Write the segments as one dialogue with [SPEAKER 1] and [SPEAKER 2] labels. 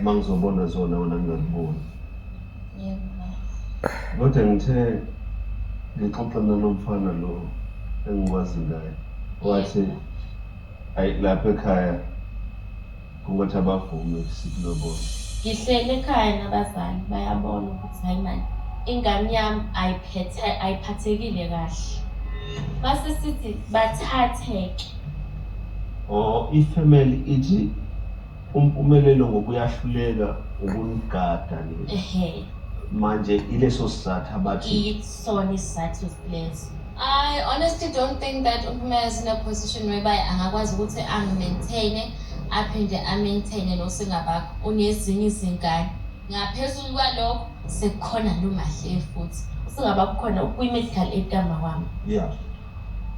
[SPEAKER 1] uma ngizobona zona wena ngingakuboni
[SPEAKER 2] kodwa ngithe
[SPEAKER 1] ngixoxa nalo mfana lo engikwazi ngaye wathi ayi lapha ekhaya kungathi abavume sikulobona ngihlele
[SPEAKER 2] ekhaya nabazali bayabona ukuthi hayi mani ingane yami ayiphathekile kahle base sithi bathatheke or
[SPEAKER 1] ifamily ithi Umpumelelo ngoba uyahluleka ukunigada le. Ehhe. Manje ileso sizathu abathi Isona isizathu
[SPEAKER 2] leso. I honestly don't think that uMpumela is in a position whereby angakwazi ukuthi angi-maintain aphinde a-maintain nosingabakho unezinye izingane. Ngaphezulu kwalokho sekukhona noMahleyi futhi. Usingabakho khona ukwi-medical aid kamawami. yeah.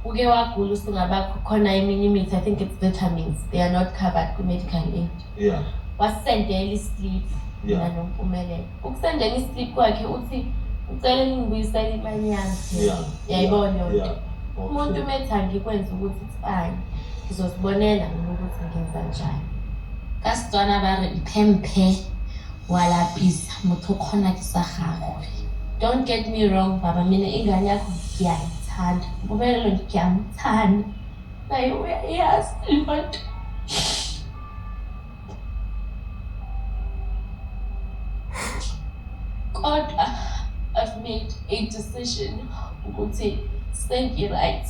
[SPEAKER 1] Uke
[SPEAKER 2] wagula usingabakho khona eminye imithi I think it's vitamins they are not covered kwi medical aid. Yeah.
[SPEAKER 1] Wasendela
[SPEAKER 2] islip mina yeah. nompumelelo. Ukusendela islip kwakhe uthi ucela ningibuyisela imali yami. Yeah. Yayibona yonke. Yeah. Okay. Umuntu umethi angikwenza ukuthi tsani. Ngizosibonela mina ukuthi ngenza njani. Ka Setswana ba re iphe mphe wa lapisa motho o kgona ke sa gagwe. Don't get me wrong baba mina ingane yakho ngiyayithanda ngobelelo ngiyamthanda naye uyayazi lento kodwa I've made a decision ukuthi sengi-right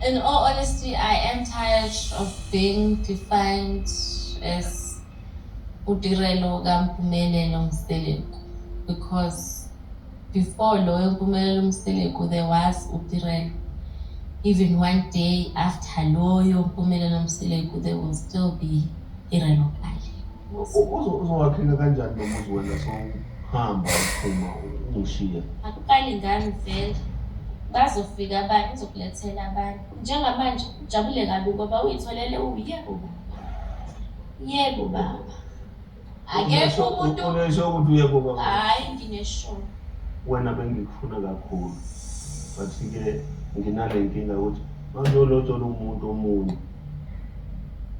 [SPEAKER 2] in all honesty I am tired of being defined as uTirelo kaMpumelelo Mseleku because before lo yoMpumelelo Mseleku there was uTirelo even one day after lo yoMpumelelo Mseleku there will still be Tirelo Kali uzowakhela
[SPEAKER 1] kanjani lo muzi wena sohamba uphuma umushiya akuqali ngami
[SPEAKER 2] vele bazofika abantu uzokulethela abantu njengamanje ujabule kabi ngoba uyitholele uye uba Yebo baba. Akekho umuntu unesho ukuthi uyebo baba.
[SPEAKER 1] Hayi
[SPEAKER 2] nginesho. Wena
[SPEAKER 1] bengikufuna kakhulu. But ke nginale nkinga ukuthi mangiyolotshola umuntu omunye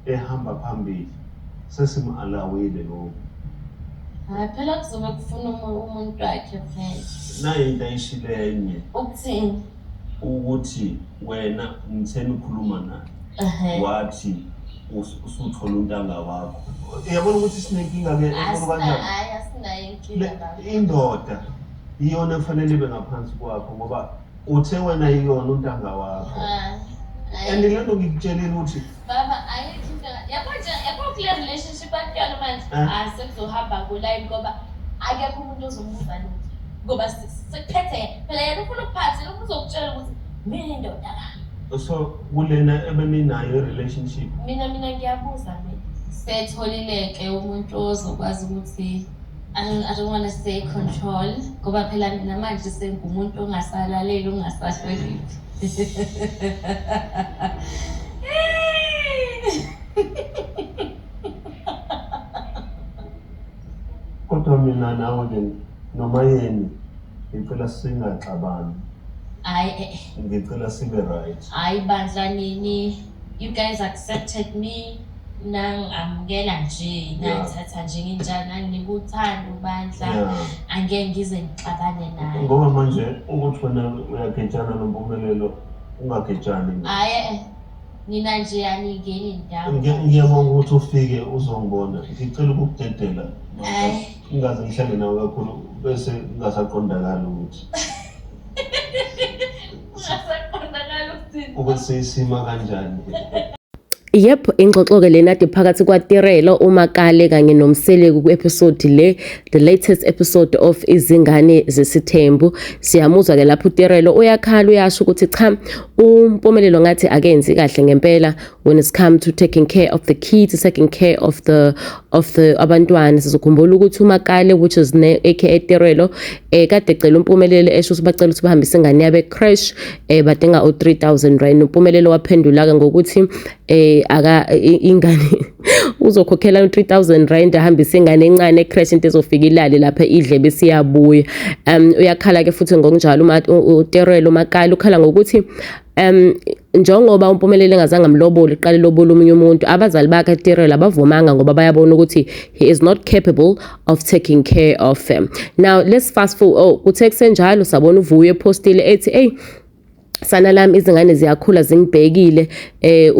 [SPEAKER 1] ehamba phambili sesimhalawile lokho. Hayi
[SPEAKER 2] phela kuzobe kufuna umuntu wakhe phela. Nayo into
[SPEAKER 1] ayishileyo enye. Ukuthini?
[SPEAKER 2] ukuthi
[SPEAKER 1] wena ngitheni ukhuluma naye Ehhe. wathi us- usuthola untanga wakho yabona ukuthi sinenkinga ke enkulu Asina- kanjani hhayi
[SPEAKER 2] asinayo inkinga Le- lapho indoda
[SPEAKER 1] iyona efanele ibe ngaphansi kwakho ngoba uthe wena iyona untanga wakho Hhayi, hhayi. and le nto ngikutshelile ukuthi Baba
[SPEAKER 2] ayikho into yabo nje yabo kule relationship akuyona manje ah sekuzohamba ngolayini ngoba akekho umuntu ozomubuza lutho ngoba sekuphethe yena phela yena ufuna ukuphatha yena ufuna uzokutshela ukuthi mina indoda la so kulena
[SPEAKER 1] ebeninayo relationship mina mina ngiyabuza
[SPEAKER 2] mina setholileke umuntu ozokwazi ukuthi I don't, I don't want to say control ngoba phela mina manje sengumuntu ongasalaleli ongasahloniphi
[SPEAKER 1] kodwa mina nawe ke noma yini ngicela singaxabani hayi
[SPEAKER 2] eh, ngicela sibe
[SPEAKER 1] right hayi bandla
[SPEAKER 2] nini You guys accepted me nangamukela nje nangithatha njengenjani nanginika uthando ubandla angeke ngize ngixabane naye ngoba manje
[SPEAKER 1] ukuthi wena uyagejana nompumelelo ungagejani hayi eh,
[SPEAKER 2] nina nje aningeni ndawo ngiyabonga ukuthi
[SPEAKER 1] ufike uzongibona ngicela ukukudedela ingaze ngihlale nawe kakhulu bese ngingasaqondakali ukuthi ukuthi isima kanjani
[SPEAKER 3] Yep, ingxoxo-ke lena kade phakathi kwaTirelo, uMakale kanye noMseleku ku-episode le, the latest episode of Izingane Zesithembu. Siyamuzwa-ke lapho uTirelo uyakhala uyasho ukuthi cha, uMpumelelo ngathi akenzi kahle ngempela, when it's come to taking care of the kids taking care of the of the abantwana sizokhumbula ukuthi umakale which is ne aka Terelo eh kade ecela umpumelelo esho ukuthi bacela ukuthi bahambise ingane yabe crash eh badinga o 3000 rand umpumelelo waphendula ke ngokuthi eh aka ingane uzokhokhela u 3000 rand ahambise ingane encane crash into ezofika ilale lapha idle bese iyabuya um uyakhala ke futhi ngokunjalo uma uTerelo umakale ukhala ngokuthi um njengoba umpumeleli engazange amlobole iqala ilobole omunye umuntu abazali bakhe etirela abavumanga ngoba bayabona ukuthi he is not capable of taking care of him now let's fast forward oh kuthe kusenjalo sabona uvuyo epostile ethi eyi sana lami izingane ziyakhula zingibhekile eh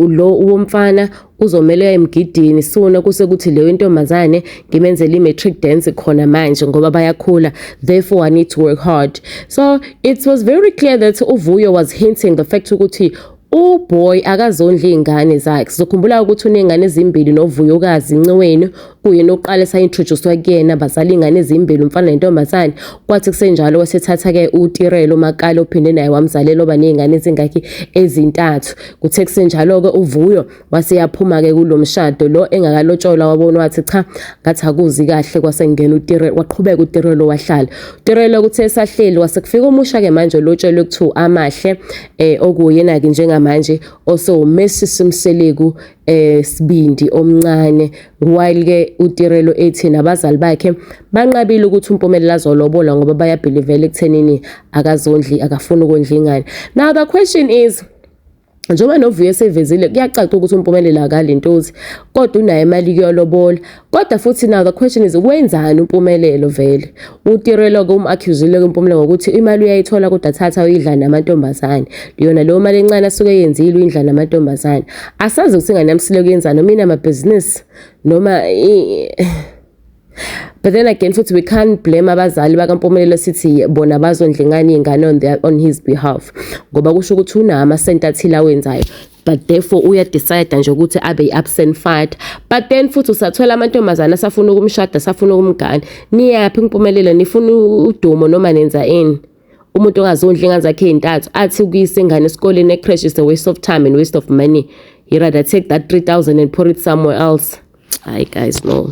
[SPEAKER 3] lo womfana uzomelwa emgidini sona kuse kuthi leyo intombazane ngimenzele i-matric dance khona manje ngoba bayakhula therefore i need to work hard so it was very clear that uvuyo was hinting the fact ukuthi uboy akazondli iy'ngane zakhe sizokhumbula ukuthi uney'ngane ezimbili novuyokazi nce wenu kuyena oqale sayintroducwa kuyena bazala ingane ezimbili umfana nentombazane kwathi kusenjalo wasethatha ke utirelo makale ophinde naye wamzalela oba nezingane ezingakhi ezintathu kuthe kusenjalo ke uvuyo waseyaphuma ke kulomshado lo engakalotshola wabona wathi cha ngathi akuzi kahle kwasengena utirelo waqhubeka utirelo wahlala utirelo kuthe sahleli wasekufika umusha ke manje lotshelwe kuthiwa amahle eh okuyena ke njengamanje osewumesisi umseleku eh Sibindi omncane while ke uTirelo ethi nabazali bakhe banqabile ukuthi uMpumelelo azolobola ngoba bayabhilivela ekuthenini akazondli akafuni ukondla ingane now the question is njengoba novuyo esevezile kuyacaca ukuthi umpumelelo akalintozi kodwa unayo imali kuyolobola Kodwa futhi now the question is wenzani uMpumelelo vele? Utirelo ke umaccusile ke uMpumelelo ngokuthi imali uyayithola kodwa thatha uyidla namantombazane. Yona leyo mali encane asuke yenzile uyindla namantombazane. Asazi ukuthi ingane yamsile kuyenzani noma inama business noma But then again futhi we can't blame abazali bakampumelelo sithi bona bazondla ingane yengane on, their, on his behalf ngoba kusho ukuthi unama sent athile awenzayo but therefore uya decide nje ukuthi abe iabsent father but then futhi usathola amantombazana asafuna ukumshada asafuna ukumgana niyaphi impumelelo nifuna udumo noma nenza ini umuntu ongazondli ingane zakhe ezintathu athi ukuyisa ingane esikoleni ecrash is a waste of time and waste of money he rather take that 3000 and pour it somewhere else hayi guys no